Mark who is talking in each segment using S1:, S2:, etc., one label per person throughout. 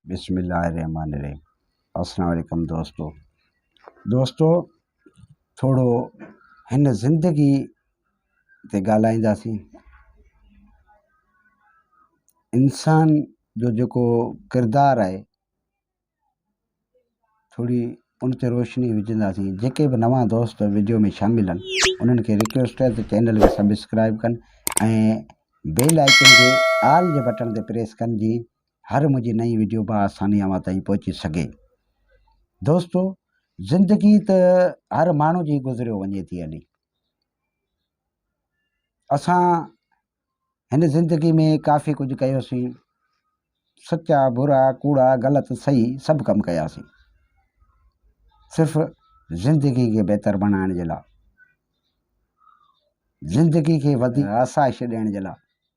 S1: بسم الله الرحمٰن الرحيم السلام عليڪم دوستو دوستو ٿورو هن زندگي تي ڳالهائينداسين انسان جو جيڪو ڪردار آهي ٿوري ان تي روشني وجهنداسين جيڪي به نوان دوست ويڊيو ۾ شامل آهن انهن کي رڪويسٽ آهي ته چينل کي سبسڪرائب ڪن ۽ بيل آئڪن کي آل جي بٽڻ تي پريس ڪن جي هر منهنجي نئين ويڊيو به آساني اوهان تائين پهچي سگهي دوستو زندگي ته هر ماڻهو جي گذريو وڃي ٿي هلي اسان هن زندگي ۾ ڪافي ڪجهه ڪيوسين سچا برا ڪوڙا غلط صحيح سڀ ڪم ڪياسين صرف زندگي کي بهتر بڻائڻ جي لاء زندگي کي وڌيڪ آسائش ڏيڻ جي لاء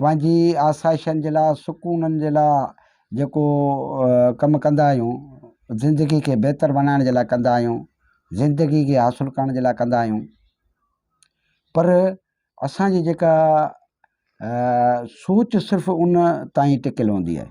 S1: پنهنجي آسائشن جي لاء سڪونن جي لاء جيڪو ڪم ڪندا آهيون زندگي کي بهتر بنائڻ جي لاء ڪندا آهيون زندگي کي حاصل ڪرڻ جي لاء ڪندا آهيون پر اسانجي جيڪا سوچ صرف ان تائين ٽڪيل هوندي آهي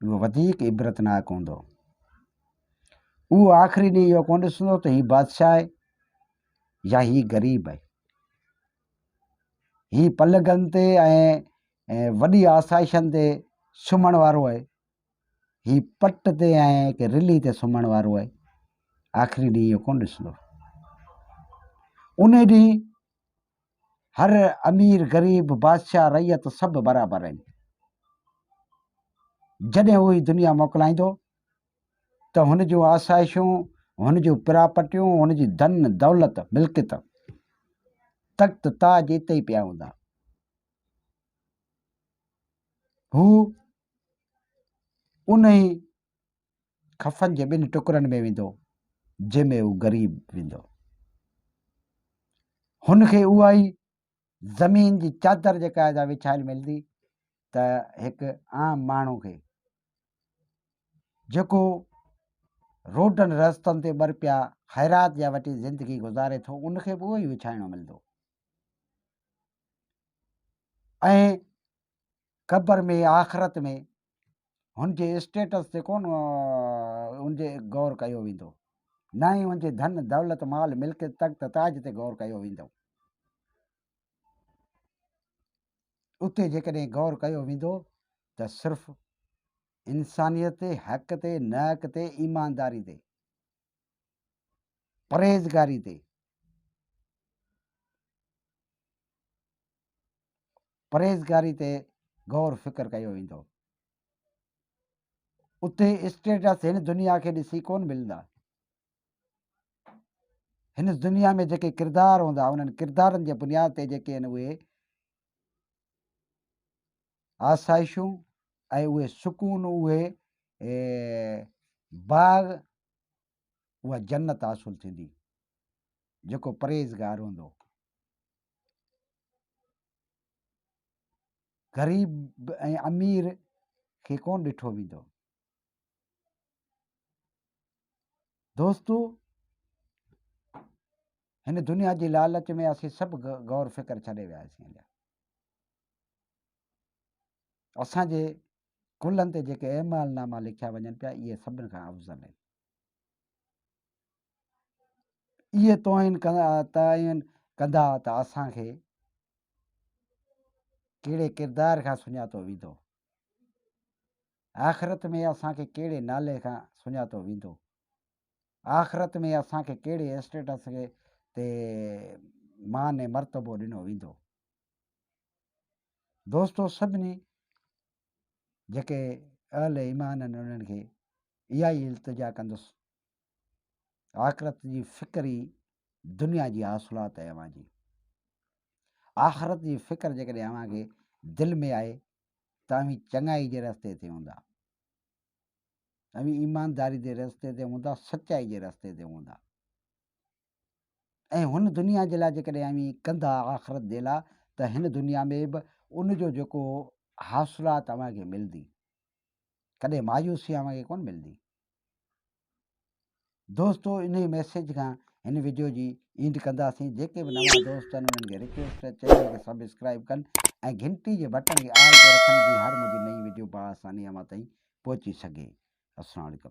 S1: اهو وڌيڪ عبرتناڪ هوندو. اهو آخري ڏينهن اهو ڪونه ڏسندو ته هي بادشاهه آهي يا هي غريب آهي. هي پلگن تي ۽ وڏي آسائشن تي سمهڻ وارو آهي. هي پٽ تي ۽ ڪنهن رلي تي سمهڻ وارو آهي. آخري ڏينهن اهو ڪونه ڏسندو. ان ڏينهن هر امير غريب بادشاهه رعيت سڀ برابر آهن. جڏهن هو هي دنيا موڪلائيندو ته هن جون آسائشون هن جون پراپرٽيون هن جي ڌن دولت ملڪيت تخت تاج اتي ئي پيا هوندا هو انهي خفن جي ٻن ٽڪرن ۾ ويندو جنهن ۾ هو غريب ويندو. هن کي اها ئي زمين جي چادر جيڪا ادا وڇايل ملندي ته هڪ عام ماڻهو کي جيڪو روڊن رستن تي ٻر پيا خيرات جا وٽي زندگي گذاري ٿو ان کي به اهو ئي وڇائڻو ملندو ۽ قبر ۾ يا آخرت ۾ هن جي اسٽيٽس تي ڪونه ان جي غور ڪيو ويندو نه ئي ان جي ڌن دولت مال ملڪيت تخت تاج تي غور ڪيو ويندو اتي جيڪڏهن غور ڪيو ويندو ته صرف انسانيت تي حق تي نهڪ تي ايمانداري تي پرهيزگاري تي پرهيزگاري تي غور فڪر ڪيو ويندو. اتي اسٽيٽس هن دنيا کي ڏسي ڪون ملندا. هن دنيا ۾ جيڪي ڪردار هوندا انهن ڪردارن جي بنياد تي جيڪي آهن اهي آسائشون ۽ اهي سڪون اهي باغ اها جنت حاصل ٿيندي جيڪو پرهيزگار هوندو غريب ۽ امير کي ڪون ڏٺو ويندو دوستو هن دنيا جي لالچ ۾ اسين سڀ غور فڪر ڇڏي وياسين اسان جي ڪلهن تي جيڪي اعمال ناما لکيا وڃن پيا اهي سڀني کان افضل آهن اهي توهين تعين ڪندا ته اسان کي ڪهڙي ڪردار کان سڃاتو ويندو آخرت ۾ اسان کي ڪهڙي نالي کان سڃاتو ويندو آخرت ۾ اسان کي ڪهڙي اسٽيٽس کي تي مان مرتبو ڏنو ويندو دوستو سڀني جيڪي اهل ايمان آهن انهن کي اها ئي التجا ڪندس آخرت جي فڪر ئي دنيا جي حاصلات آهي اوهان جي آخرت جي فڪر جيڪڏهن اوهان کي دل ۾ آهي ته اوهين چڱائي جي رستي تي هوندا اوهين ايمانداري جي رستي تي هوندا سچائي جي رستي تي هوندا ۽ هن دنيا جي لاء جيڪڏهن اوهين ڪندا آخرت جي لاء ته هن دنيا ۾ به ان جو جيڪو حاصلات اوهان کي ملندي ڪڏهن مايوسي اوهان کي ڪون ملندي دوستو انهي ميسيج کان هن وڊيو جي اينڊ ڪنداسين جيڪي به نوان دوست آهن انهن کي رڪويسٽ آهي چينل کي سبسڪرائب ڪن ۽ گھنٽي جي بٽن کي آل تي رکن جي هر منهنجي نئين وڊيو بآساني اوهان تائين پهچي سگھي السلام عليڪم